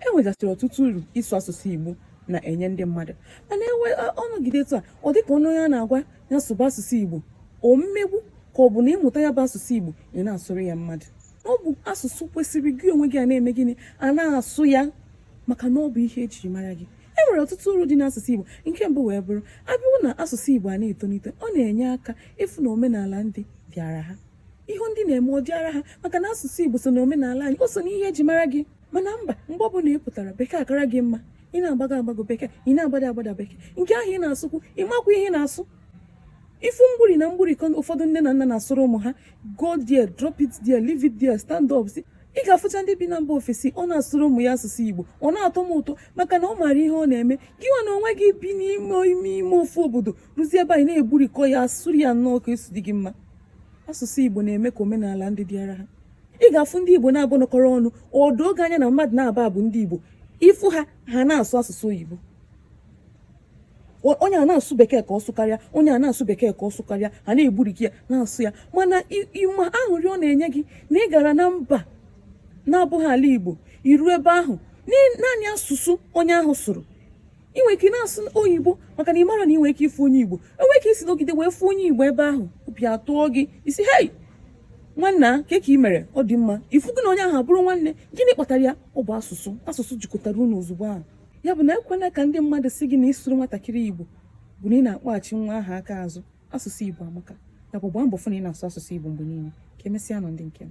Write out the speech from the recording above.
e nwegasịrị ọtụtụ uru ịsụ asụsụ Igbo na-enye ndị mmadụ mana enwe ọnọgide etu a ọ dịka onye onye a na-agwa ya sụba asụsụ Igbo ọ mmegbu ka ọ bụ na ịmụta ya bụ asụsụ Igbo ị na-asụrụ ya mmadụ ọ bụ asụsụ kwesịrị gị onwe gị a na-eme gịnị a na-asụ ya maka na ọ bụ ihe e jiri mara gị e nwere ọtụtụ uru dị n'asụsụ Igbo nke mbụ wee bụrụ abịawụ na asụsụ Igbo a na-etolite ọ na-enye aka ịfụ na omenala ndị dịara ha ihe ndị na-eme ọ dịara ha maka na asụsụ Igbo so na omenala anyị o so na ihe e ji mara gị mana mba mgbe ọbụla ị pụtara bekee akara gị mma ị na-agbago agbago bekee ị na-agbada agbada bekee nke ahụ ị na-asụkwu ị makwa ihe ị na-asụ ị fụ mgburi na mgburi ka ụfọdụ nne na nna na-asụrụ ụmụ ha go there drop it there leave it there stand up si ị ga-afụcha ndị bi na mba ofesi ọ na-asụrụ ụmụ ya asụsụ Igbo ọ na-atọ m ụtọ maka na ọ maara ihe ọ na-eme gị nwa na onwe gị bi n'ime ime ime ofu obodo ruzie ebe anyị na-egburikọ ya asụrụ ya nnọọ ka o si dị gị mma asụsụ Igbo na-eme ka omenala ndị dịara ha ị ga-afụ ndị Igbo naabọ nọkọrọ ọnụ o doo gị anya na mmadụ naabọ a bụ ndị Igbo ị fụ ha ha na-asụ asụsụ oyibo onye a na-asụ bekee ka ọ sụkarịa onye a na-asụ bekee ka ọ sụkarịa ha na-egburikọ ya na-asụ ya mana ị ma aṅụrị ọ na-enye gị na ị gara na mba na-abụghị ala Igbo i ru ebe ahụ naanị asụsụ onye ahụ sụrụ ị nwere ike na-asụ oyibo maka na ị mara na ị nwere ike ịfụ onye igbo e nwere ike isi nọgide wee fụ onye igbo ebe ahụ obi atọọ gị ị sị hei nwanna kee ka ị mere ọ dị mma ị fụ gị na onye ahụ abụrụ nwanne gịnị kpatara ya ọ bụ asụsụ asụsụ jikọtara unu ozugbo ahụ ya bụ na ekwena ka ndị mmadụ sị gị na ịsụrụ nwatakịrị igbo bụ na ị na-akpọghachi nwa ahụ aka azụ asụsụ igbo amaka nakwa gbaa mbọ fụ na ị na-asụ asụsụ igbo mgbe niile ka emesịa nụ ndị nke m